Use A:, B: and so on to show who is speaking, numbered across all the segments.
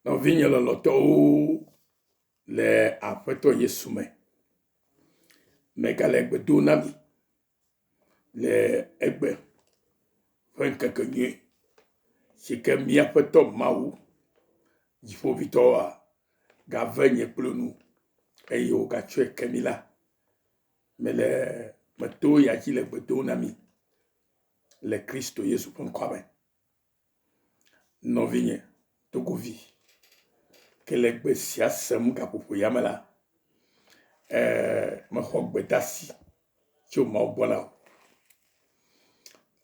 A: Nɔvinye lɔlɔ̃tɔwo le Aƒetɔ Yesu me, megale gbe dom na mi le egbe ƒe ŋkeke nyui si ke mía Aƒetɔ Mawu, Dziƒoʋĩtɔ wa, gave nye kple nu eye wògatsɔe ke mí la, mele meto ya dzi le gbe dom na mi le Kristo Yesu ƒe ŋkɔa me. Nɔvinye togovi ke le gbe sia sem gaƒoƒo ya me la, ee, mexɔ gbedasi tso Mawu gbɔ la o.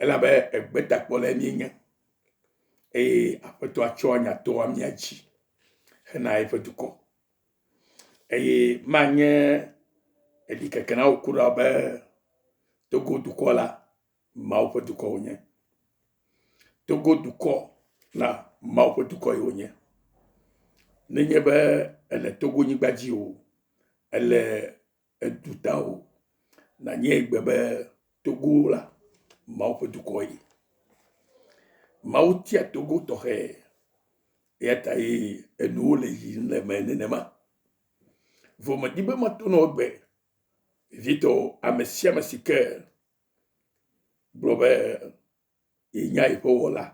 A: Elabe egbetakpɔlae míenye eye Aƒetɔa tsɔa nya toa mía dzi hena eƒe dukɔ. Eye manye ɖikeke na wò kura be Togo dukɔ la Mawu ƒe dukɔ wonye. Togo dukɔ la, Mawu ƒe dukɔ yi wonye. Nenye be ele Togo nyigba dzi o, ele edu ta o, nanye gbe be Togo la, Mawu ƒe dukɔ yi. Mawu tia Togo tɔxɛ, eya ta ye enuwo le yi le me nenema. Vomedi be mato nɔ gbe, vitɔ ame sia ame si ke gblɔ be yenya yeƒe Wɔla.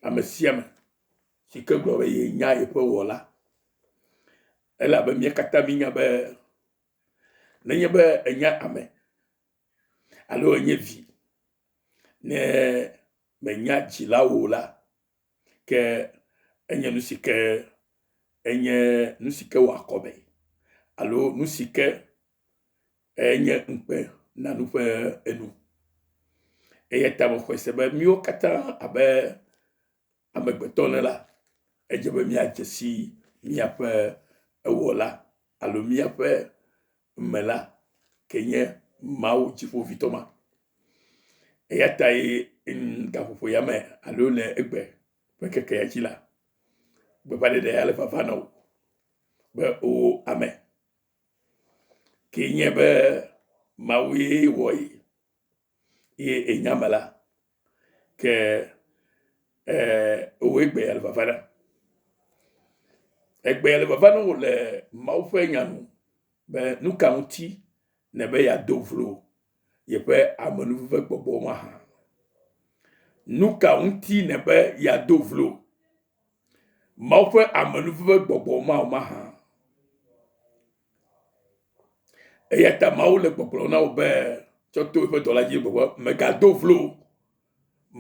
A: Ame sia ame si ke gblɔ be yenya yeƒe Wɔla elabe mía katã míenya be nenye be ènye ame alo ènye vi ne mènya dzila o la, ke enye nu si ke enye nu si ke wɔ akɔme alo nu si ke enye ŋukpe na nu ƒe enu. Eya ta mexɔe se be míwo katã abe amegbetɔ ene la, edze be míadze si míaƒe Ewɔla alo míaƒe Mela ke nye Mawu dziƒoʋĩtɔ ma. Eya tae gaƒoƒo ya me alo le egbe ƒe ŋkeke ya dzi la, gbeƒãɖeɖe ya le vava na wò be, Oo ame, kee nye be Mawue wɔ ye eye enya me la, ke e, wòwɔe gbe ale vava ɖa. Egbe ale vava ne wòle Mawu ƒe nya nu be nu ka ŋuti ne be yeado vlo yeƒe amenuveve gbɔgbɔ mahã. Nu ka ŋuti ne be yeado vlo. Mawu ƒe amenuveve ƒe gbɔgbɔ mawo mahã. Eya ta Mawu le gbɔgblɔ na wò be tsɔ to eƒe dɔla dzi gbɔgbɔ megado vlo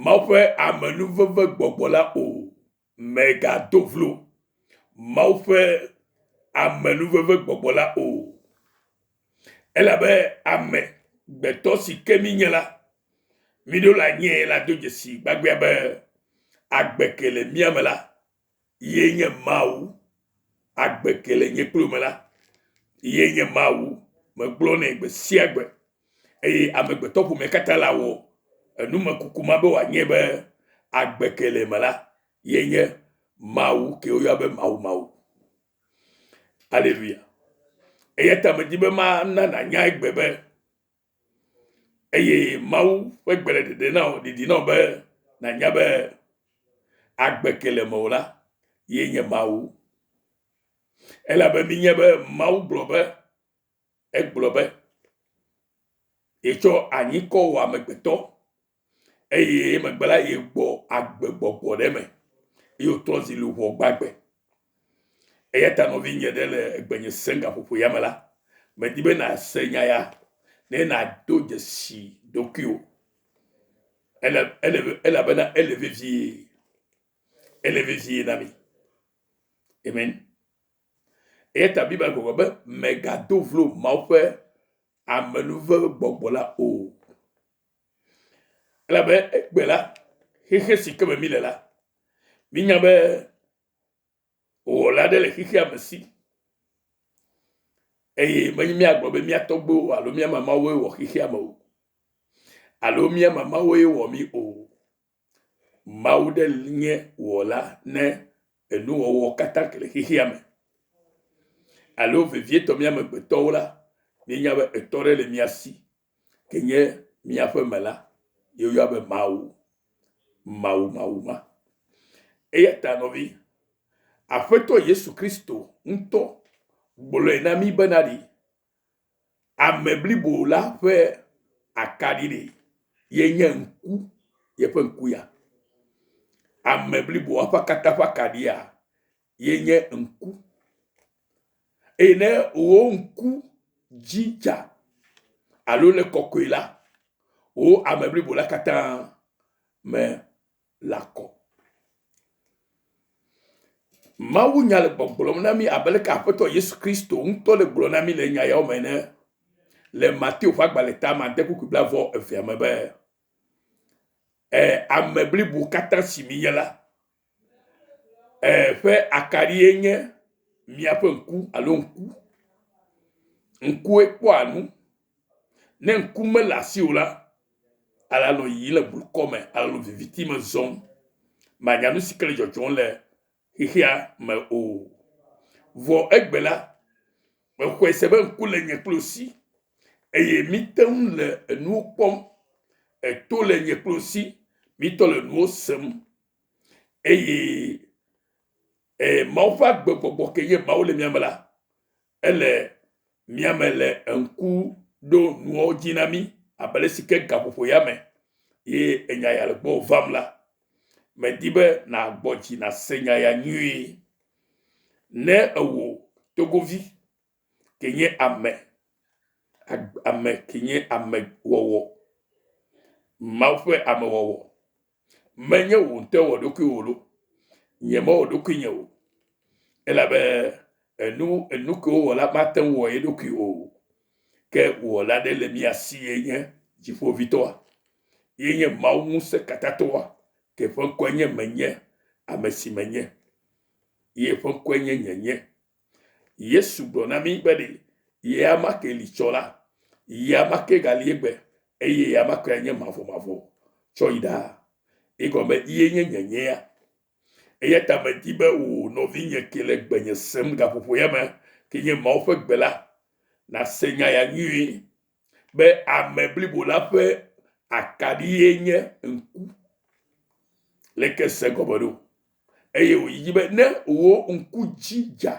A: Mawu ƒe amenuveve gbɔgbɔ la o megado vlo Mawu ƒe amenuveve gbɔgbɔ la o. Elabe ame gbetɔ si ke mínye la, míɖo le anyiee la do dzesi gbagbea be agbe ke le mía me la ye nye Mawu. Agbe ke le nye kplo me la ye nye Mawu. Megblɔ nɛ gbe sia gbe eye amegbetɔ ƒomea katã la wɔ enumekuku ma be wòanye be agbe ke le eme la ye nye Mawu ke woyɔa be Mawu Mawu. Aleluya. Eya ta medi be mana nànya egbe be eye Mawu ƒe gbe le dede na wò didi na wò be nànya be agbe ke le mewò la ye nye Mawu. Elabe minye be Mawu gblɔ be egblɔ be yetsɔ anyi kɔ wɔ amegbetɔ eye emegbe la yegbɔ agbe gbɔgbɔ ɖe eme eye wòtrɔ zi luʋɔ gbagbe. Eya ta nɔvinye ɖe le egbenye sem gaƒoƒo ya me la, medi be nàse nya ya ne nàdo dzesi ɖokuiwò ele ele elabena ele vevie ele vevie na mi. Amen. Eya ta Biblia gblɔ be megado vlo Mawu ƒe amenuveve gbɔgbɔ la o. Elabe egbe la, xexe si ke me míle la, mínya be Wɔla aɖe le xexea me si eye menye míagblɔ be mía tɔgbuiwo alo mía mamawoe wɔ xexea me o alo mía mamawoe wɔ mí o. Mawu ɖe nye wɔla ne enuwɔwɔ katã le xexea me. Alo vevietɔ mía amegbetɔwo la, míenya be etɔ ɖe le mía si, ke nye míaƒe me la, yeyɔa be Mawu, Mawu, Mawu ma. Eya ta nɔvi, Aƒetɔ Yesu Kristo ŋutɔ gblɔe na mí bena ɖi Ame blibo la ƒe akaɖi ɖi ye nye ŋku yeƒe ŋku ya. Ame blibo la ƒe katã ƒe akaɖia ye nye ŋku eye ne wò ŋku dzi dza alo le kɔkɔe la, wò ame blibo la katã me. la kɔ. Mawu nya le gbɔgblɔm na mi abe leke Aƒetɔ Yesu Kristo ŋutɔ le gblɔ na mi le nya yawo me ne le Mateo ƒe agbalẽ ta ma de kukui blavɔ evea me be e, ame blibo katã si minye la e, ƒe akarie nye miaƒe ŋku alo ŋku. Ŋkue kpɔa nu Ne ŋku mele asiwò la, ale anɔ yiyim le blukɔ me, ale anɔ viviti me zɔm. Mànya nu si ke le dzɔdzɔm le xexea me o. Vɔ egbe la, mexɔe se be ŋku le nye kple wò si, eye míte ŋu le enuwo kpɔm. Eto le nye kple wò si, mítɔ le nuwo sem, eye e Mawu ƒe agbegbɔgbɔ ke nye Mawu le mía me la, ele mía me le ŋku ɖo nuawo dzi na mí abe ale si ke gaƒoƒo ya me ye enya ya le gbɔ vam la, medi be nàgbɔ dzi nàse nya ya nyuie. Ne ewò togovi ke nye ame, ame ke nye ame wɔwɔ, Mawu ƒe amewɔwɔ, Menye wò ŋutɔ wò ɖokuiwò lo, nyemewɔ ɖokuinye o, elabe enu enu ke wowɔ la mate ŋu wɔ ye ɖokui o, ke Wɔla aɖe le mia si ye nye Dziƒovitɔa, ye nye Mawu Ŋusẽkatãtɔa, ke ƒe ŋkɔe nye Menye ame si menye, ye ƒe ŋkɔe nye Nyenye, Yesu gblɔ na mí be ɖe yea ma ke li tsɔ la, yea ma ke gali egbe, eye yea ma ke nye mavɔmavɔ tsɔ yi ɖaa. Egɔme ye nye nyenyea. Eya ta medi be wò nɔvinye ke le gbenye sem gaƒoƒoya me ke nye Mawu ƒe gbe la, nàse nya ya nyuie. be ame blibo la ƒe akaɖie nye ŋku le ke se gɔme ɖo eye wòyi dzi be ne wò ŋku dzi dza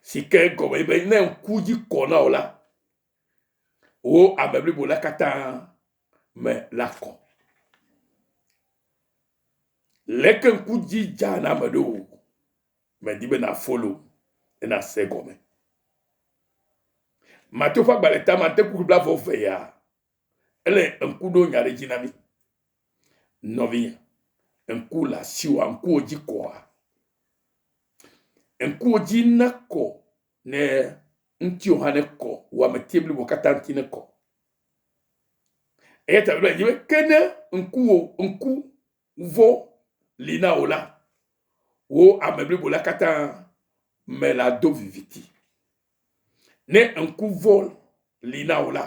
A: si ke gɔme be ne ŋku dzi kɔ na wò la wò ame blibo la katã me la kɔ. Leke ŋku dzi dza na ame ɖo? Medi be na follow ne na se egɔme. Mateo ƒe agbalẽ tama ŋte kuku bla vɔ ve ya ele ŋku ɖo nya ɖe dzi na mi. Nɔvinya, ŋku la siwa ŋkuwo dzi kɔa? Ŋkuwo dzi ne kɔ ne ŋtio hã ne kɔ wɔame tie blibo kata ŋti ne kɔ. Eyata bla dzi be ke ne ŋkuwo ŋku ŋuvo li na wò la, wò ame blibo la katã me la do viviti. Ne ŋku vo li na wò la,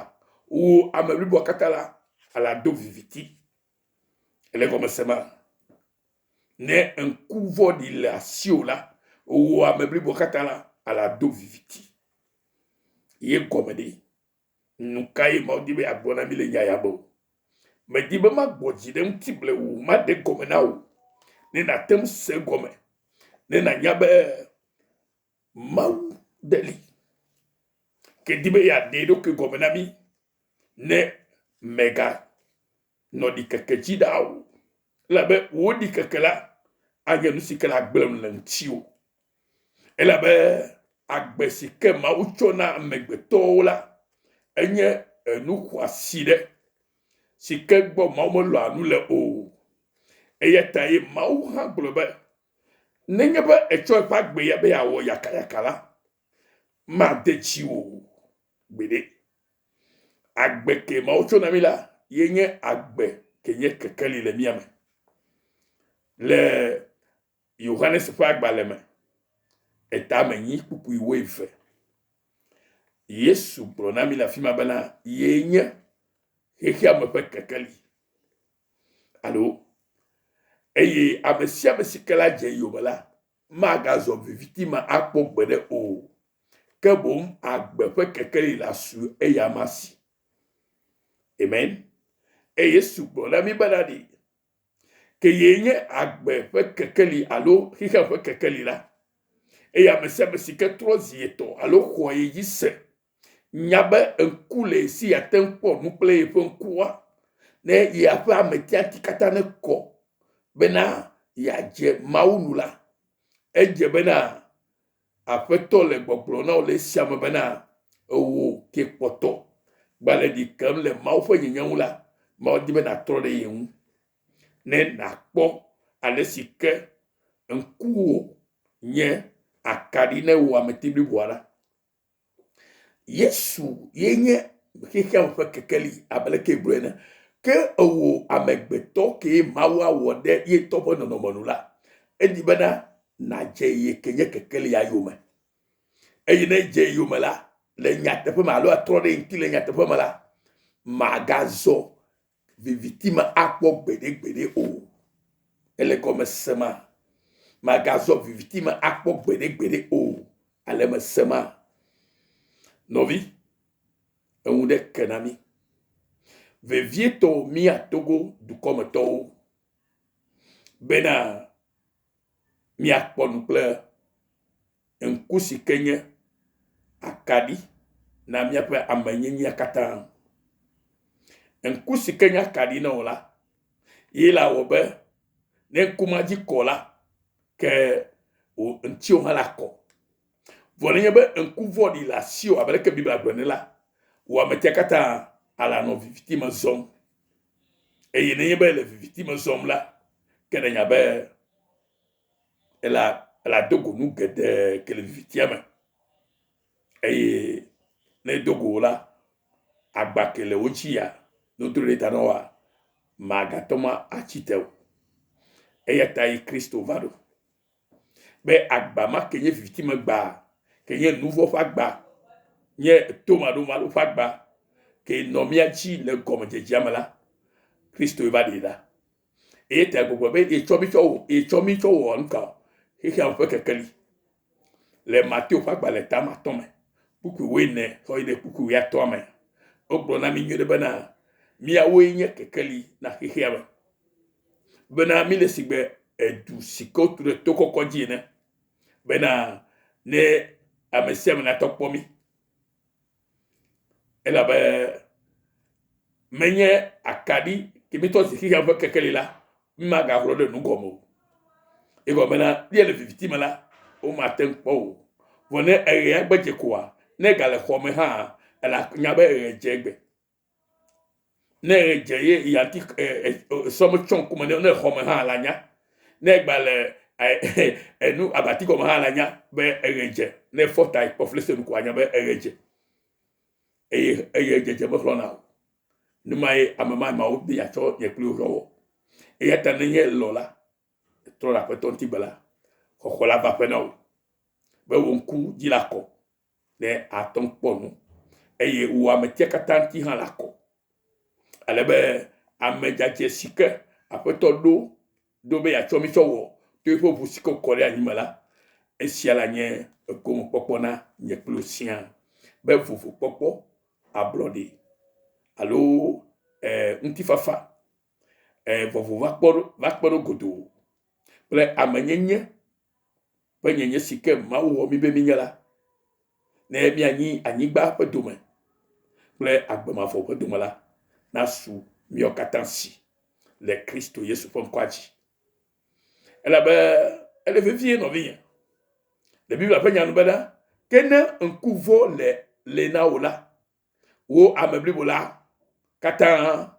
A: wò ame bliboa katã la ala do viviti. Ele gɔme se ma? Ne ŋku vo li le asiwò la, wò ame bliboa katã la ala do viviti. Ye gɔme ɖe. Nu kae Mawu di be yeagblɔ na mí le nya ya me? Medi be magbɔ dzi ɖe eŋuti blewu o, maɖe gɔme na wò ne nàte ŋu se egɔme, ne nànya be Mawu ɖe li, ke di be yeaɖe eɖokui gɔme na mí ne mègagblɔ Nɔ ɖikeke dzi ɖaa o, elabe wò ɖikeke la anye nu si ke le agblẽ le ŋutiwò. Elabe agbe si ke Mawu tsɔ na amegbetɔwo la, enye enu xɔasi ɖe, si ke gbɔ Mawu melɔa nu le o. Eya tae Mawu hã gblɔ be, Nenye be ètsɔ eƒe agbe ya be yeawɔ yakayaka la, made dziwò o. Gbeɖe. Agbe ke Mawu tsɔ na mí la ye nye agbe ke nye kekeli le mía me. Le Yohanes ƒe agbalẽ me, etame nyi kpukpui wo eve. Yesu gblɔ na mí le afi ma bena ye nye xexea me ƒe kekeli. Alo eye ame sia ame si ke la dze eyome la magazɔ viviti me akpɔ gbeɖe o, ke boŋ agbe ƒe kekeli la su eyama si. Amen. Eye Yesu gblɔ na mi be na ɖi, ke ye nye agbe ƒe kekeli alo xexea ƒe kekeli la. Eye ame sia ame si ke trɔ zi etɔ alo xɔa ye dzi se Nya be ŋku le ye si yeate ŋu kpɔ nu kple yeƒe ŋkua, ne yeaƒe ametiati katã nekɔ bena yeadze Mawu nu la, edze bena Aƒetɔ le gbɔgblɔm na wò le esia me bena, Ewò ke kpɔtɔ gba le ɖi kem le Mawu ƒe nyenye ŋu la, Mawu di be nàtrɔ ɖe ye ŋu, ne nàkpɔ ale si ke ŋkuwò nye akaɖi ne wò ameti bliboa la. Yesu ye nye xexea me ƒe kekeli abe leke gblɔ ene. Ke ewò amegbetɔ kee Mawu awɔ ɖe ye tɔ ƒe nɔnɔme nu la, edi bena nàdze ye ke nye kekelia yome. Eye ne edze yome la, le nyateƒe me alo atrɔ ɖe ŋuti le nyateƒe me la, màgazɔ viviti me akpɔ gbeɖegbeɖe o. Ele gɔme se ma. Magazɔ viviti me akpɔ gbeɖegbeɖe o. Ale me se ma. Nɔvi, eŋu ɖe ke na mi. Vevietɔ mía Togo dukɔmetɔwo bena míakpɔ nu kple ŋku si ke nye akaɖi na míaƒe amenyenyea katã. Ŋku si ke nye akaɖi na wò la, ye la wɔ be ne ŋku ma dzi kɔ la, ke wò ŋutiwo hã la kɔ. Vɔ nenye be ŋku vɔ̃ɖi le asiwò abe ɖeke Biblia gblɔ ne la, wò ametia katã ala nɔ viviti me zɔm. Eye nenye be ele viviti me zɔm la, ke nanya be ela ela do go nu geɖe ke le vivitia me. Eye ne do go la, agba ke le wo dzi ya, ne wodro ɖe ta na woa, magatɔ ma atsi te o. Eya ta yi Kristo va ɖo. be agba ma ke nye vivitimegba, ke nye nuvɔ ƒe agba, nye tomaɖomaɖo ƒe agba, ke nɔ mía dzi le gɔmedzedzea me la, Kristoe va ɖi la. Eye ta gbogbo be yetsɔ mi tsɔ wɔ, yetsɔ mi tsɔ wɔ nu ka o, xexea me ƒe kekeli. Le Mateo ƒe agbalẽ ta matɔ me, kpukpui wuiene tsɔ yi ɖe kpukpui wuiatɔa me, wogblɔ na mi nyuie ɖe bena, miawoe nye kekeli na xexea me. bena míle sigbe edu si ke wotu ɖe to kɔkɔ dzi ene bena ne ame sia ame natɔ kpɔ mí elabe menye akaɖi kemitɔ zi xixea ƒe kekeli la mímagaxlɔ ɖe nu gɔme o egɔme la bia le viviti me la womate ŋu kpɔ o vɔ ne eɣea gbedze koa ne gale xɔ me hã ela nya be eɣe dze egbe ne edze ye yati sɔme tsɔ ŋkume ne ne xɔme hã la nya ne egba le enu abati gɔme hã la nya be eɣe dze ne efɔ ta kpɔ flese nu ko anya be eɣe dze eye eye dzedze mexlɔna o ne ma ye ame ma mawo be yatsɔ nye kpli woƒe wɔ eya ta ne nye lɔ la trɔ ɖe aƒetɔ ŋuti be la xɔxɔ la va ƒe na wò be wò ŋku dzi la kɔ ne àtɔ kpɔ nu eye wò ame tia katã ŋuti hã la kɔ. Ale be ame dzadzɛ si ke Aƒetɔ ɖo ɖo be yeatsɔ mi tsɔ wɔ to eƒe ʋu si ke wòkɔ ɖe anyi me la, esia la nye egomekpɔkpɔ na nye kple wò siaa be vovokpɔkpɔ, ablɔɖe alo e, ŋutifafa eh, vɔvɔ va kpɔ ɖo va kpe ɖo godoo kple amenyenye ƒe nyenye si ke Mawu wɔ mí be mínye la, ne míanyi anyigba ƒe dome kple agbe mavɔ ƒe dome la, nasu míawo katã si le Kristo Yesu ƒe ŋkɔa dzi. Elabe ele vevie nɔvinye le Biblia ƒe nya nu bena, ke ne ŋku vɔ le le na wò la, wò ame blibo la katã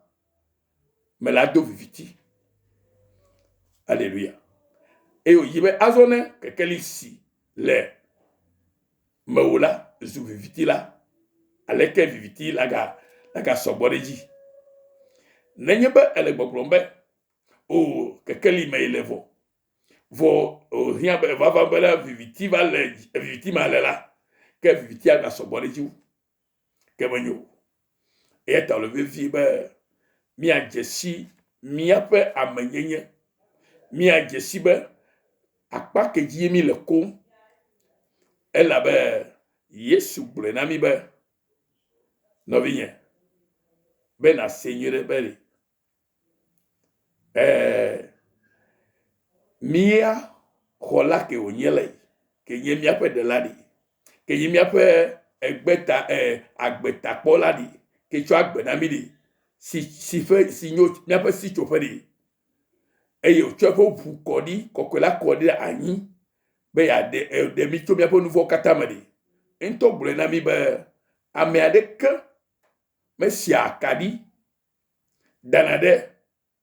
A: me la do viviti. Aleluya. Eye wòyi be azɔ ne kekeli si le mewò la zu viviti la, aleke viviti la ga lagasɔ gbɔ ɖe edzi. Nenye be ele gbɔgblɔm be, o kekeli mee le vɔ, Vɔ wòhiã be vava be ne viviti va le viviti ma le la, ke vivitia na sɔgbɔ ɖe edzi wu. Ke menyo o. Eya ta wòle vevie be míadze si míaƒe amenyenye, míadze si be akpa ke dzie míle koŋ. Elabe Yesu gblɔe na mí be, Nɔvinye, be nàsee nyuiɖe be Ɛɛ, mía xɔla ke wònye le, ke nye míaƒe ɖela ɖi, ke nye míaƒe egbeta e agbetakpɔla ɖi, ke tsɔ agbe na mí ɖi, si si ƒe si nye míaƒe sitsoƒe ɖi eye wotsɔ eƒe ŋu kɔ ɖi kɔkɔe la kɔ ɖe anyi be yeaɖe eɖe mí tso míaƒe nu vɔ̃wo katã me ɖi. Eŋutɔ gblɔe na mí be ame aɖeke mesia akaɖi. dana ɖe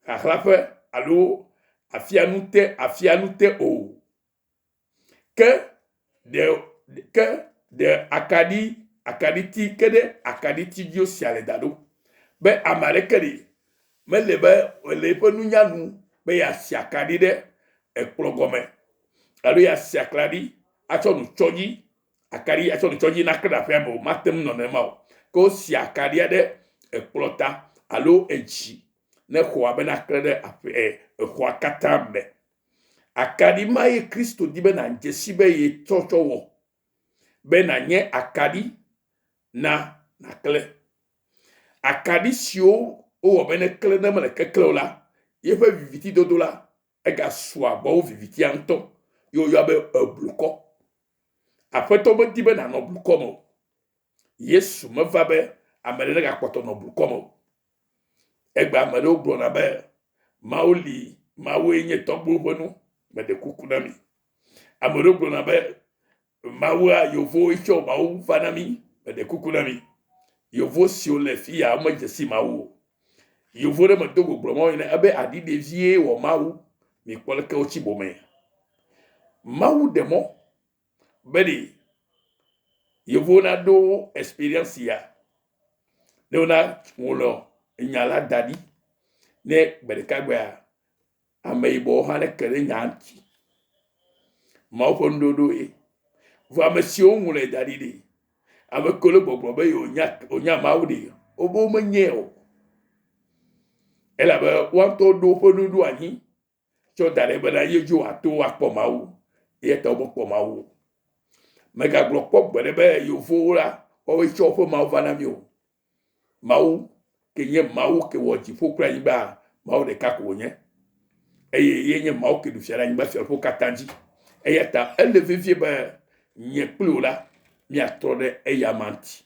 A: xaxla ƒe alo afia nu te afia nu te o. Ke ɖe ke ɖe akaɖi akaɖiti ke ɖe akaɖiti dzi wosia le da ɖo be ame aɖeke li mele be le eƒe nunya nu be yeasi akaɖi ɖe ekplɔ gɔme alo yeasi akaɖi atsɔ nu tsɔ dzi akaɖi atsɔ ɖetsɔ dzi nake ɖe aƒea me o. Mate ŋu nɔ nenema o. Ke wosia akaɖia ɖe ekplɔ ta alo edzi ne xɔa be naklẽ ɖe aƒe e, exɔa katã me. Akaɖi ma ye Kristo di be nàdze si be yetsɔ tsɔ wɔ be nànye akaɖi na naklẽ. Akaɖi siwo wowɔ be neklẽ ne mele keklẽ o la, yeƒe viviti dodo la egasu agbawo vivitia ŋutɔ ye woyɔa be eblukɔ. Aƒetɔ medi be nanɔ blukɔ me o. Yesu meva be ame ɖe negakpɔtɔ nɔ blukɔ me o. Egbe ame ɖewo gblɔna be Mawu li, Mawue nye tɔgbuiwo ƒe nu, meɖe kuku na mi. Ame ɖewo gblɔna be Mawu a yovo yi tsɔ mawu va na mi me de kuku na mi yovo si o le fi ya me je si mawu o yovo ɖe me do goglo mawu ne ebe adi de vie wɔ mawu mi kpɔ le ke o tsi bo me mawu de mo be de yovo na do experience ya ne wona wolo nya la da di ne gbe ɖeka gbea Ameyibɔwo hã ɖe ke ɖe nya ŋuti. Mawu ƒe nuɖoɖo ye. Vɔ ame siwo ŋlɔe da ɖi ɖi. Ame kewo le gbɔgblɔ be yewonya wonya Mawu ɖi. Wobe womenyɛ o. Elabe woa ŋutɔ ɖo woƒe nu ɖo anyi tsɔ da ɖe bena ye dzi woato akpɔ Mawu. Eya ta womekpɔ Mawu o. Megagblɔ kpɔ gbeɖe be yevuwo la woawoe tsɔ woƒe Mawu va na mí o. Mawu ke nye Mawu ke wɔ dziƒo kple anyigba, Mawu ɖeka ko wònye. Eye ye nye Mawu ke ɖu fia ɖe anyigba siaƒo katã dzi. Eya ta ele vevie be nye kpli wò la, míatrɔ ɖe eya ma ŋuti.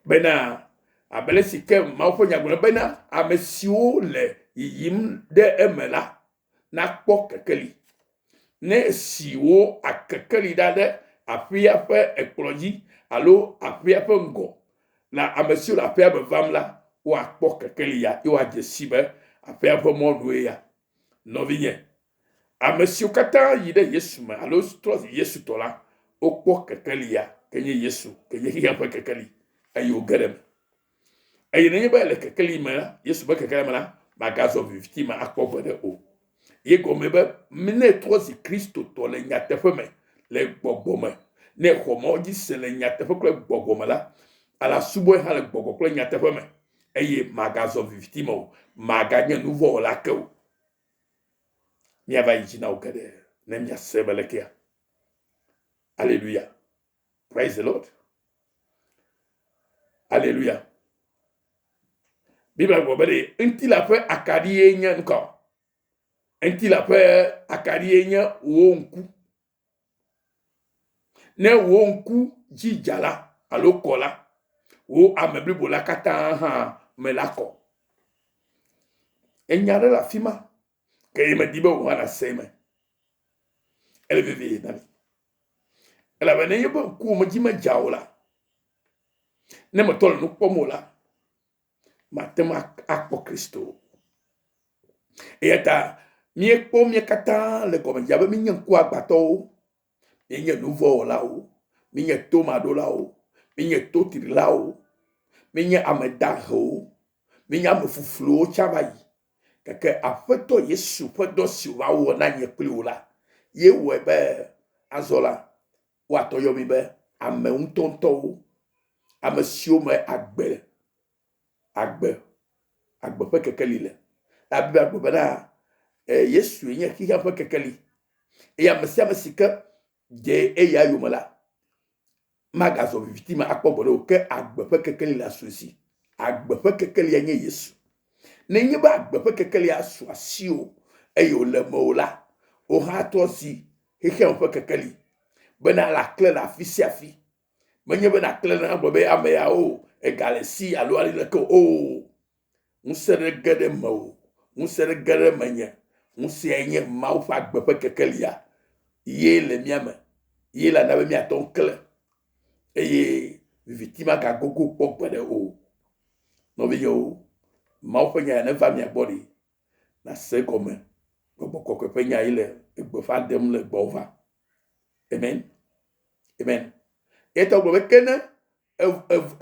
A: Bena, abele si ke Mawu ƒe nyagblɔ bena, ame siwo le yiyim ɖe eme la, nakpɔ kekeli. Ne esi wò akekeli ɖa ɖe aƒea ƒe ekplɔ dzi alo aƒea ƒe ŋgɔ na ame siwo le aƒea me vam la, woakpɔ kekeli ya eye woadze sii be aƒea ƒe mɔnue ya. Nɔvinye, ame siwo katã yi ɖe Yesu me alo trɔ zi Yesu tɔ la, wokpɔ kekeli ya, ke nye Yesu, ke nye xexea ƒe kekeli eye woge ɖe eme. Eye nenye be le kekeli me la, Yesu be kekeli me la, magazɔ viviti me akpɔ gbeɖe o. Ye gɔme be, ne trɔ zi Kristotɔ le nyateƒe me, le gbɔgbɔ me, ne xɔ mɔ dzi se le nyateƒe kple gbɔgbɔ me la, ala subɔe hã le gbɔgbɔ kple nyateƒe me, eye magazɔ viviti me o, maganye nuvɔwɔla ke o. Miava yi dzi na wo geɖe ne miase be lekea. Aleluya. Praise the Lord. Alléluia. Bible gblɔ be ŋuti la ƒe akaɖi ye nye ŋkɔ. Ŋuti la ƒe akaɖi ye nye wò ŋku. Ne wò ŋku dzi dza la alo kɔ la, wò ame blibo la katã hã me la kɔ. Enya ɖe le afi ma. Ke ye medi be wò hã nàsee me. Ele vevie na mi. Elabena ne yeƒe ŋkuwo me dzi medza o la, ne metɔ le nu kpɔm o la, mate ŋu akpɔ Kristo. Eya ta míekpɔ mía katã le gɔmedzedzea be mínye ŋkuagbãtɔwo. Míenye nu vɔ̃ wɔlawo. Míenye tomaɖolawo. Míenye totrilawo. Míenye ame dahewo. Míenye ame fufluwo tsã va yi. Gake Aƒetɔ Yesu ƒe dɔ si wòva wɔ na nye kple wò la, ye wɔe be azɔ la, woatɔ yɔ mi be ame ŋutɔŋutɔwo, ame siwo me agbe agbe, agbe ƒe kekeli le. Abiblia gblɔ bena Yesue nye xexea ƒe kekeli eye ame sia ame si ke dze eya yome la magazɔ viviti me akpɔ gbeɖe o ke agbe ƒe kekeli le asu si. Agbe ƒe kekelia nye Yesu. Nenye be agbe ƒe kekelia su asiwò eye wòle mewò la, wò hã trɔ zi xexea me ƒe kekeli bena lã klẽ le afi sia afi. Menye be nàklẽ ɖe agblɔ be ame ya o, egale si alo ali leke o. O! Ŋusẽ ɖe ge ɖe mewò, ŋusẽ ɖe ge ɖe menye. Ŋusẽae nye Mawu ƒe agbe ƒe kekelia ye le mía me. Ye la na be míate ŋu aklẽ eye viviti magagogo kpɔ gbeɖe o. Nɔvinyewo, Mawu ƒe Nya ya neva mia gbɔ ɖi. nase gɔme Gbɔgbɔ Kɔkɔe ƒe nya ye le gbeƒã ɖem le gbɔwò va. Amen. Amen. Etɔ gblɔ be ke ne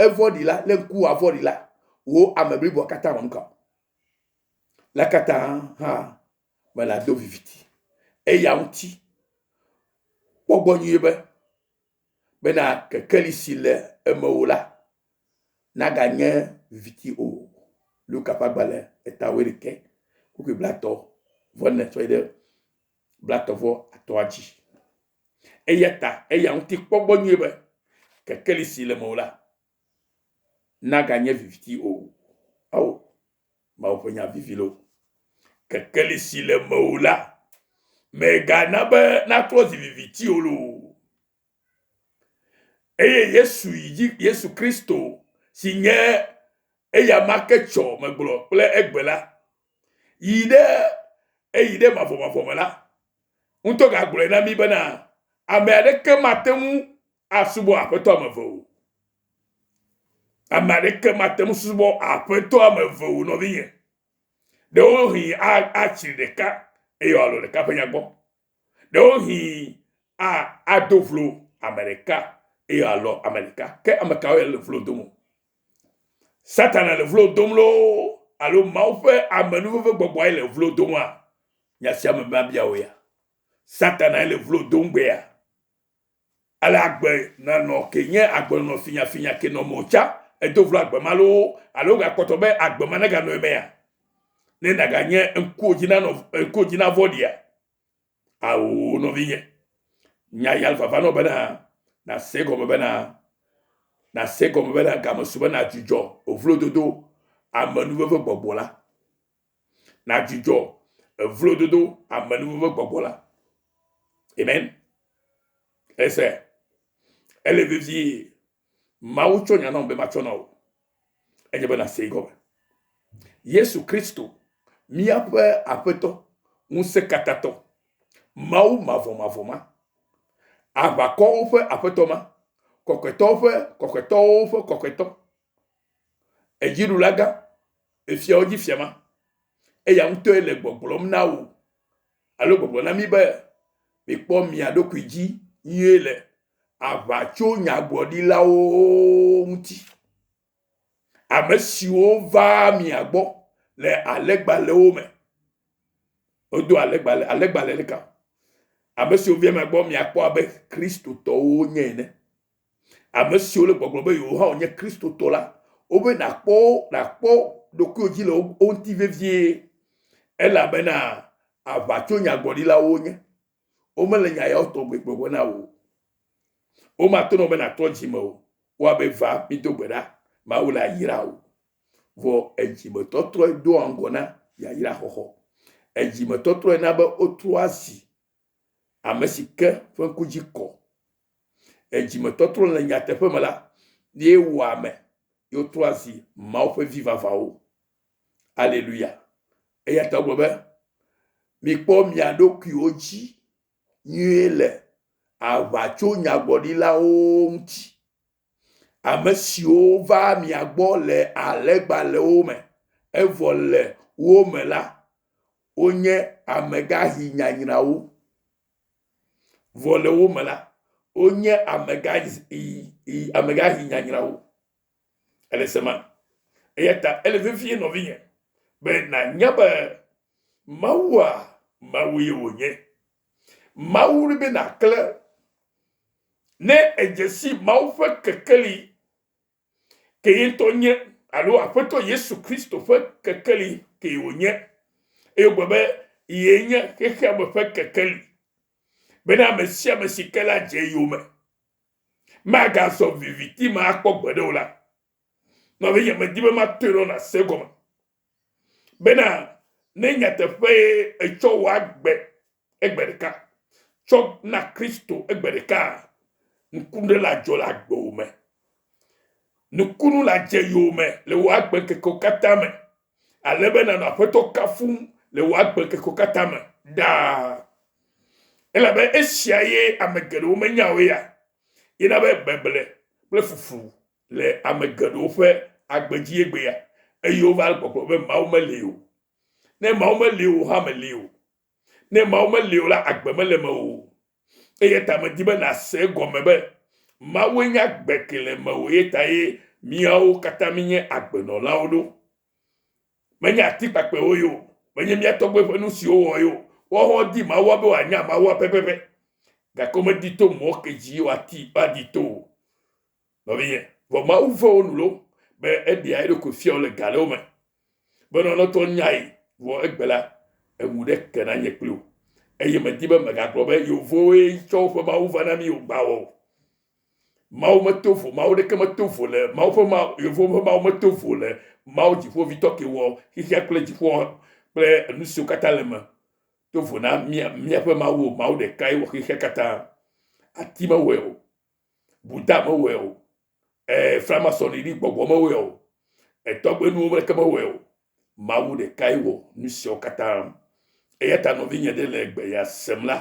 A: evɔɖi la le ŋku wòa vɔɖi la, wò ame bliboa katã wɔ nuka? La katã hã mele ado viviti eya ŋuti. Kpɔ gbɔ nyuie be bena kekeli si le eme o la naganye viviti o. Luka ƒe agbalẽ eta wuiɖekɛ kpukpui blatɔ vɔ ne tsɔe ɖe blatɔ vɔ atɔa dzi. Eya ta eya ŋuti kpɔ gbɔ nyuie be kekeli si le eme o la naganye viviti o. Ao! Mawu ƒe nya vivi loo. Kekeli si le mewò la, mègana be naklɔ zi viviti o loo. Eye Yesu yi dzi, Yesu Kristo si nye eya ma ke tsɔ megblɔ kple egbe la, yi ɖe eyi ɖe mavɔmavɔ me la, ŋutɔ gagblɔe na mí bena, Ame aɖeke mate ŋu asubɔ aƒetɔ ame eve o. Ame aɖeke mate ŋu subɔ aƒetɔ ame eve o nɔvinye. Ɖewohĩ atsi ɖeka eye wòalɔ̃ ɖeka ƒe nya gbɔ. Ɖewohĩ ado vlo ame ɖeka eye wòalɔ̃ ame ɖeka. Ke ame kawoe le vlo dom o? Satana le vlo dom loo alo Mawu ƒe amenuveve gbɔgbɔae le vlo domaa? Nya sia me mabia wò ya. Satanae le vlo dom gbea. Ele agbe na nɔ ke nye agbenɔnɔ finyafinya ke nɔ mɔ ca edo vlo agbe ma loo alo wogakpɔtɔ be agbe ma neganɔ emea? Ne nàganye ŋkuwodzinanɔ ŋkuwodzinavɔ̃ɖia? Ao, nɔvinye. Nya ya le vava nɔ bena nàse egɔme bena nàse egɔme bena game su be nàdzudzɔ vlododo amenuvevegbɔgbɔ la. na dzudzɔ evlododo amenuvo ƒe gbɔgbɔ la. Amen. Ese ele vevie Mawu tsɔ nya nam be matsɔ na wò. Enye be nàsee gɔme. Yesu Kristo, míaƒe Aƒetɔ, Ŋusẽkatãtɔ, Mawu mavɔmavɔ ma, aʋakɔwo ƒe Aƒetɔ ma, kɔkɔetɔwo ƒe kɔkɔetɔwo ƒe kɔkɔetɔ, Edziɖula gã, efiawo dzi fia ma, eya ŋutɔe le gbɔgblɔm na wò alo gbɔgblɔ na mí be, Mikpɔ mia ɖokui dzi nyuie le aʋatsonyagblɔɖilawo ŋuti, ame siwo vaa mia gbɔ le alẽgbalẽwo me. Wodo alẽgbalẽ, alẽgbalẽ ɖeka. Ame siwo via mia gbɔ miakpɔ abe Kristotɔwo nye ene. Ame siwo le gbɔgblɔ be yewo hã wonye Kristotɔ la, wobe nàkpɔ wo nàkpɔ ɖokuiwò dzi le wo wo ŋuti vevie, elabena aʋatsonyagblɔɖilawo wonye. Womele nya yawo tɔgbe gblɔgblɔ na wò o. Womate ŋu be nàtrɔ dzi me o. Woabe, Va, mído gbe ɖa, Mawu la yra wò. Vɔ edzimetɔtrɔe doa ŋgɔ na yayraxɔxɔ. Edzimetɔtrɔe na be wotrɔa zi ame si ke ƒe ŋku dzi kɔ, edzime tɔtrɔ le nyateƒe me la, ye wɔa ame, ye wotrɔa zi Mawu ƒe vi vavãwo. Aleluya! Eya ta wogblɔ be, mikpɔ mia ɖokuiwo dzi nyuie le aʋatsonyagblɔɖilawo ŋuti. Amesiwo va mia gbɔ le alẽgbalẽwo me, evɔ le wo me la, wonye amegaxi nyanyrawo, vɔ le wo me la, wonye amegaxi nyanyrawo. Ele sema? Eya ta ele vevie nɔvinye be nanya be Mawua, Mawue wònye. Mawu be nàklẽ. Ne èdze si Mawu ƒe kekeli, ke ye ŋutɔ nye, alo Aƒetɔ Yesu Kristo ƒe kekeli kee wònye, eye wògbe be yee nye xexea me ƒe kekeli, bena ame sia ame si ke la dze eyome magazɔ viviti me akpɔ gbeɖe o la, nɔvinye, medi be matɔe nɔ nàse egɔme. bena ne nyateƒee ètsɔ wò agbe egbe ɖeka tsɔ na Kristo egbe ɖekaa, nukunu ɖe ladzɔ le agbewò me. Nukunu ladze yowòme le wò agbeŋkekewo katã me, ale be nànɔ Aƒetɔ kafum le wò agbeŋkekewo katã me ɖaa. Elabe esia ye ame geɖewo menya o eya ye na be beble kple fuflu le ame geɖewo ƒe agbe dzi egbea, eye wova le kpɔkplɔ be Mawu meli o. Ne Mawu meli o hã meli o. Ne Mawu meli o la, agbe mele eme o. Eya ta medi be nàse egɔme be Mawue nye agbe ke le eme o, eya tae míawo katã míenye agbenɔlawo ɖo. Menye ati kpakpɛwo ye o, menye mía tɔgbuiwo ƒe nu siwo wowɔ ye o, woawo hã wodi Mawua be wòanya Mawua pɛpɛpɛ, gake womedi to mɔ ke dzi woadi to o. Nɔvinye, vɔ Mawu ve wo nu lo be eɖea eɖokui fiawo le ga ɖewo me, be lɔlɔtɔ nyae, vɔ egbe la, enu ɖe ke na nye kpli o, eye medi be megagblɔ be yeovowoe tsɔ woƒe Mawu va na mí o, gbawɔ o. Mawu meto vo, Mawu ɖeke meto vo le, Mawu ƒe Mawu, yeovowo ƒe Mawu meto vo le Mawu dziƒovitɔ ke wɔ xexea kple dziƒoa kple enusiwo katã le eme to vo na mía, míaƒe Mawu o, Mawu ɖekae wɔ xexea katã. Ati mewɔe o. Buta mewɔe o, ɛɛ, framasɔniɖi gbɔgbɔ mewɔe o, etɔgbenuwo mleke mewɔe o. Mawu ɖekae wɔ nu siawo katã. Eya ta nɔvinye ɖe le egbeya sem la,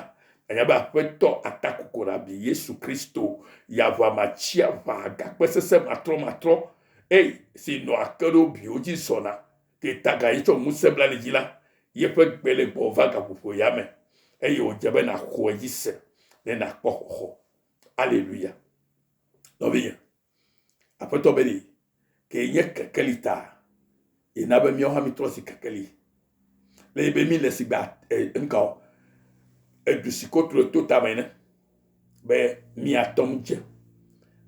A: ànya be Aƒetɔ Atakokorabi, Yesu Kristo, ya ʋamatsiaʋa gakpe sesẽ matrɔmatrɔ ei si nɔa ke ɖe wo biwo dzi zɔna ke taga ye tsɔ ŋusẽ bla li dzi la, yeƒe gbe le gbɔva gaƒoƒoea me, eye wòdze be nàxɔe dzi se ne nàkpɔ xɔxɔ. Aleluya. Nɔvinye, aƒetɔ be ni ke nye kekeli ta yina be míawo hã mítrɔ si kekeli le yi be mí le si gba nka o edu si ko tro to tame ne be míatɔ ŋu dze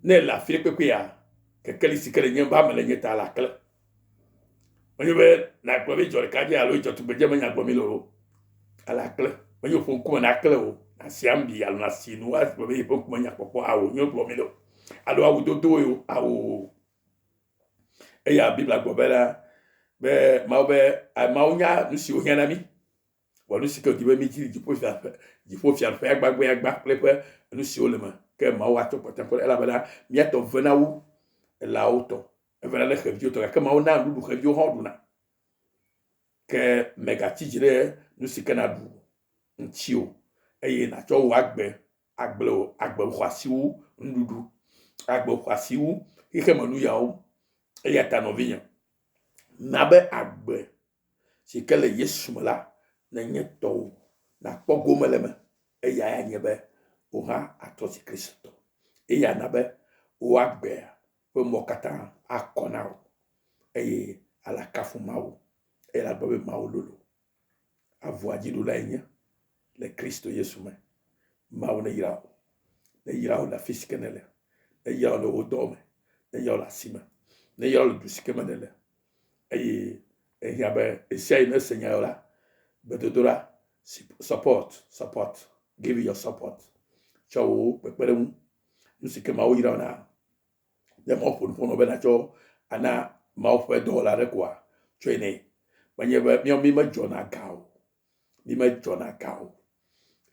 A: ne le afi kpekpea kekeli si ke le nye ba me le nye ta la kle Menye be nàgblɔ be edzɔ ɖeka dzi alo edzɔ tugbedze me nya gblɔm mele o. Ele akple. Menye ƒo ŋkume nakle o. Nàsi ami alo nàsi nu woawo agblɔ be yi ƒe ŋkume nya kpɔkpɔ hã wònye wogblɔ mele o. Alo awu dodo ye o ao o. Eya Biblia gblɔ be la, be Mawu be ameawo nya nu si wohiã na mí. Vɔ nu si ke wòdi be mídzi le dziƒofiaƒe, dziƒofiaƒea gbagbeagba kple eƒe nu siwo le eme. Ke Mawu atsɔ kpɔtɔe kɔ ɖe elabena mía tɔ vena wu elao tɔ. evana ne xeviwo tɔ gake mawu na nuɖuɖu xeviwo hã ɖuna ke mègatsi dzi ɖe nu si ke nàɖu ŋuti o eye nàtsɔ wò agbe agble wò agbe xɔasi wu nuɖuɖu agbe xɔasi wu xexeme nuyawo eya ta nɔvinye na be agbe si ke le yesu me la nenye tɔwò nàkpɔ gome le me eya anye be wò hã atrɔ zi kristotɔ eya na be wò agbea ƒe mɔ katã akɔ na wò, eye ale akafu Mawu, eye ale agblɔ be Mawu lolo. Avua dziɖulae nye le Kristo Yesu me. Mawu neyra wò, neyra wò le afi si ke nèle, neyra wò le wò dɔ me, neyra wò le asi me, neyra wò le du si ke me nèle, eye ehiã be esia yi nese nya la, gbedodoɖa, support, support, give your support, tsɔ wò kpekpeɖeŋu, nu si ke Mawu yra wò na, Ne Mawu ƒo nu ƒo nɔ be natsɔ ana Mawu ƒe dɔwɔla aɖe koa, tsɔe nɛ. Menye be míawo mí medzɔna ga o. Mí medzɔna ga o.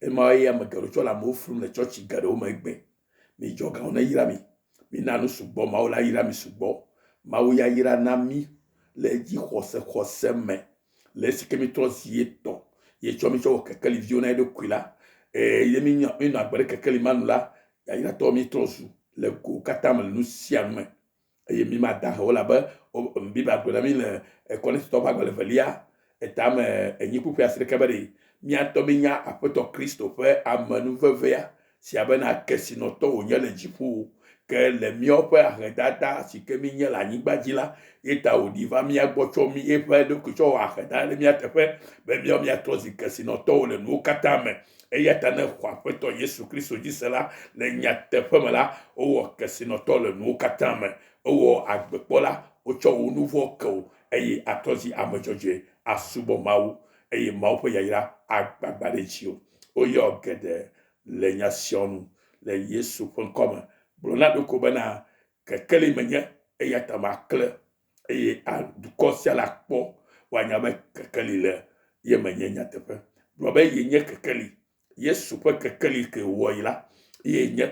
A: Emawoe ya ame geɖewo tsɔ le amewo flum le tsɔtsi geɖewo me egbe. Midzɔ ga o nayra mi. Mina nu sugbɔ Mawu la yra mi sugbɔ. Mawu ya yra na mí le dzixɔse xɔse me. le esi ke mítrɔ zi ye tɔ ye tsɔ mítsɔ wɔ kekeli viwo na eɖokui la eye ye mínya míenɔ agbe ɖe kekeli ma nu la yayratɔ mítrɔ zu le go katã me le nu sia nu me eye mi ma da o elabe biblia gblɔ na mi le kɔnɛtitɔ ƒe agbalẽ velia etame enyi kpukpui asi ɖeke be ɖe míatɔ mínya aƒetɔ kristo ƒe amenuvevea sia bena kesinɔtɔ wònye le dziƒo o, ke le míaƒe ahedada si ke mínye le anyigba dzi la ye ta wòɖi va mía gbɔ tsɔ mí eƒe ɖokui tsɔ wɔ aheda ɖe mía teƒe be míawo míatrɔ zi kesinɔtɔwo le nuwo katã me. Eya ta ne xɔ Aƒetɔ Yesu Kristo dzi se la, le nyateƒe me la, wowɔ kesinɔtɔ le nuwo katã me. Ewɔ agbekpɔla, wotsɔ wò nu vɔ̃ ke wò, eye àtrɔ zi ame dzɔdzɔe asubɔ Mawu, eye Mawu ƒe yayra agbagbã ɖe dziwò. Woyɔ geɖe le nya sia nu le Yesu ƒe ŋkɔ me. Gblɔ na ɖoko bena, kekeli menye, eya ta maklẽ, eye a, dukɔ sia la kpɔ, woanya be kekeli le ye me nye nyateƒe. Gblɔ be, Yenye kekeli. Yesu ƒe kekeli ke wòwɔ yi la, ye nye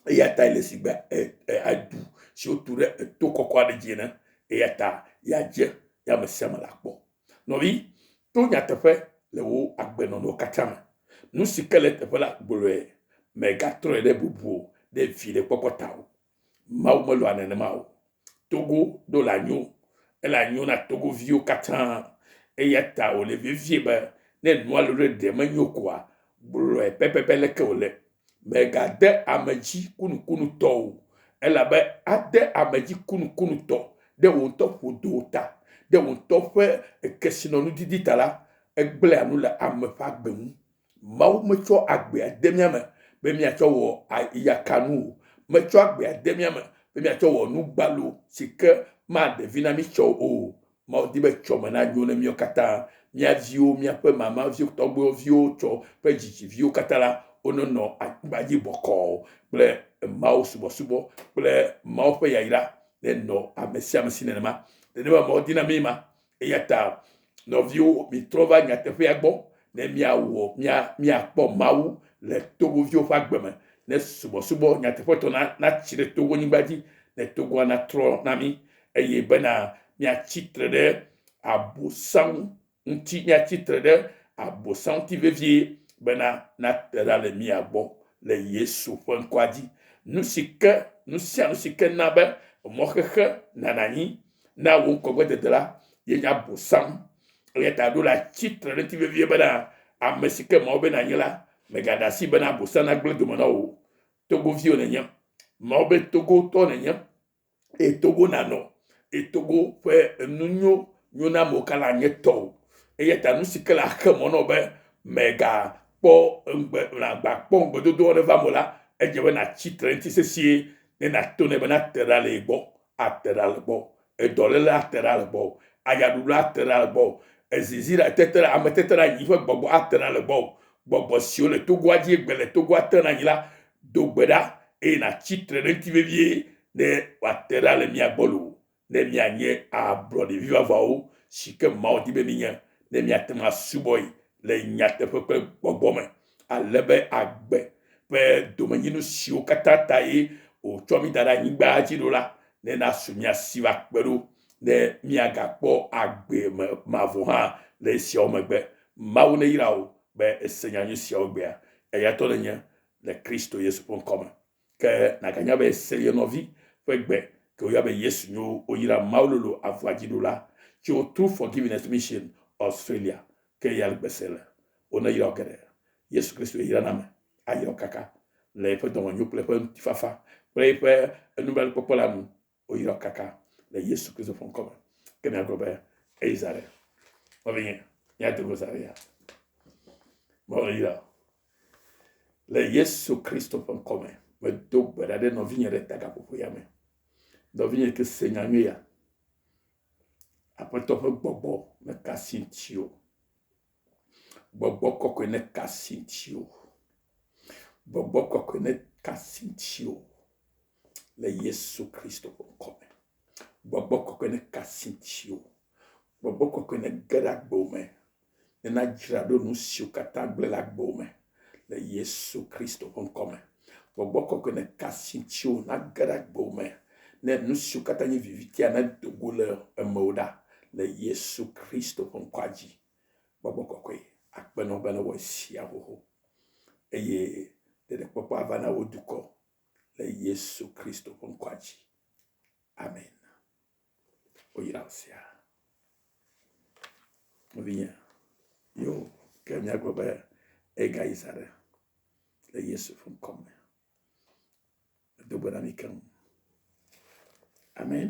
A: Eya ta ele si be edu si wotu ɖe eto kɔkɔ aɖe dzi ene. Eya ta yeadze ye ame sia ame akpɔ. Nɔvi, to nyateƒe le wò agbenɔnɔ katã me. Nu si ke le eteƒe la, gblɔe. Mègatrɔe ɖe bubu o, ɖe viɖekpɔkpɔ ta o. Mawu melɔ̃a nenema o. Togo ɖo le anyo. Ele anyo na togoviwo katã. Eya ta wòle vevie be ne nua lolo ɖe menyo koa, gblɔe pɛpɛpɛ leke wòle. Mègade ame dzi kunukunutɔ o, elabe ade ame dzi kunukunutɔ ɖe wò ŋutɔ ƒodowo ta, ɖe wò ŋutɔ ƒe kesinɔnudidi ta la, egblẽa nu le ame ƒe agbe ŋu. Mawu metsɔ agbea de mía me be míatsɔ wɔ yakanu o, metsɔ agbea de mía me be míatsɔ wɔ nu gbalo si ke maɖe vi na mí tsɛ o. Mawu di be tsɔme nanyo ne míawo katã, mía viwo, míaƒe mama viwo, tɔgbuiwo viwo, tsɔ ƒe dzidzi viwo katã la, wonenɔ anyigba dzi bɔkɔɔ kple Mawu subɔsubɔ kple Mawu ƒe yayra nenɔ ame sia ame si nenema. Nenema Mawu di na mí ma. Eya ta nɔviwo, mitrɔ va nyateƒea gbɔ ne míawɔ, mía, míakpɔ Mawu le Togoviwo ƒe agbe me, ne subɔsubɔ nyateƒetɔ na, natsi ɖe Togonyigba dzi, ne Togoa natrɔ na mí. eye bena míatsi tre ɖe Abosam ŋuti, míatsi tre ɖe Abosam ŋuti vevie bena nate ɖa le mía gbɔ le Yesu ƒe ŋkɔa dzi. Nu si ke, nu sia nu si ke na be mɔxexe nana anyi na wò ŋkɔgbedede la, ye nye Abosam. Eya ta ɖo la tsi tre ɖe ŋuti vevie bena ame si ke Mawu be nànye la, mègaɖe asi bena Abosam nagblẽ dome na wò o. Togovi wònenye, Mawu be togotɔ nènye. etogo nanɔ etogo ƒe enu nyo nyo na amewo kaka nye tɔ o eya ta nu si ke le axe mɔ na wò be mègakpɔ ŋugbe nàgbakpɔ ŋugbedodoa aɖe va me la edze be nàtsi tre eŋuti sesĩe ne nàto nɛ be nate ɖa le ye gbɔ ate ɖa le gbɔ edɔlele ate ɖa le gbɔ ayaɖuɖu ate ɖa le gbɔ ezizi ɖa tete ɖa ameteteɖeanyi ƒe gbɔgbɔ ate ɖa le gbɔ gbɔgbɔ siwo le togoa dzi egbe le togoa te ɖe anyi la Do gbe ɖa, eye nàtsi tre ɖe eŋuti vevie ne wòate ɖa le mía gbɔ loo, ne míanye ablɔɖe vivavawo si ke Mawu di be míenye, ne míate ŋu asubɔe le nyateƒe kple gbɔgbɔ me, ale be agbe ƒe domenyinu siwo katã tae wòtsɔ mí da ɖe anyigbaa dzi ɖo la nena su mía si va kpe ɖo, ne míagakpɔ agbe me mavɔ hã le esiawo megbe. Mawu neyra wò be èse nyanyui siawo egbea. Eya ŋutɔ nènye, le Kristo Yesu ƒe ŋkɔ me. Ke nàganya be se ye nɔvi ƒe gbe ke woyɔa be Yesu nyo woyra Mawu lolo avua dzi ɖo la tso True Forgiveness Mission Australia ke ya gbe se le. Woneyra wò geɖe. Yesu Kristoe yra na ame ayra wò kaka le eƒe dɔmenyo kple eƒe ŋutifafa kple eƒe enublanuikpɔkpɔ la nu. woyra kaka le Yesu Kristo ƒe ŋkɔ me. Ke miagblɔ be, eyi zã ɖe. Nɔvinye, míado go zã ɖe ya. Mewole yra. Le Yesu Kristo ƒe ŋkɔ me, medo gbe ɖa ɖe nɔvinye ɖe tagaƒoƒo ya me. Nɔvinye ke se nya nyui ya. Aƒetɔ ƒe gbɔgbɔ mekasi ŋuti o. Gbɔgbɔ kɔkɔe ne ka asi ŋutiwò. Gbɔgbɔ kɔkɔe ne ka asi ŋutiwò le Yesu Kristo ƒe ŋkɔ me. Gbɔgbɔ kɔkɔe ne ka asi ŋutiwò. Gbɔgbɔ kɔkɔe ne ge ɖe agbo me. Ne nadzra ɖo nu siwo katã gblẽ le agbo me. le Yesu Kristo ƒe ŋkɔ me. Gbɔgbɔ kɔkɔe ne ka si ŋuti wò nage ɖe agbo me ne nu siwo katã nye vivitia nedo go le emewo ɖa le Yesu Kristo ƒe ŋkɔa dzi. Gbɔgbɔ kɔkɔe akpe nɔ be ne wɔ esia xoxo eye ɖeɖekpɔkpɔ ava na wò dukɔ le Yesu Kristo ƒe ŋkɔa dzi. Amen. woyra nu sia. Nɔvinye, yo ke míagblɔ be egayi zã ɖe le Yesu ƒe ŋkɔ me. Medo gbe na mi keŋ. Amen.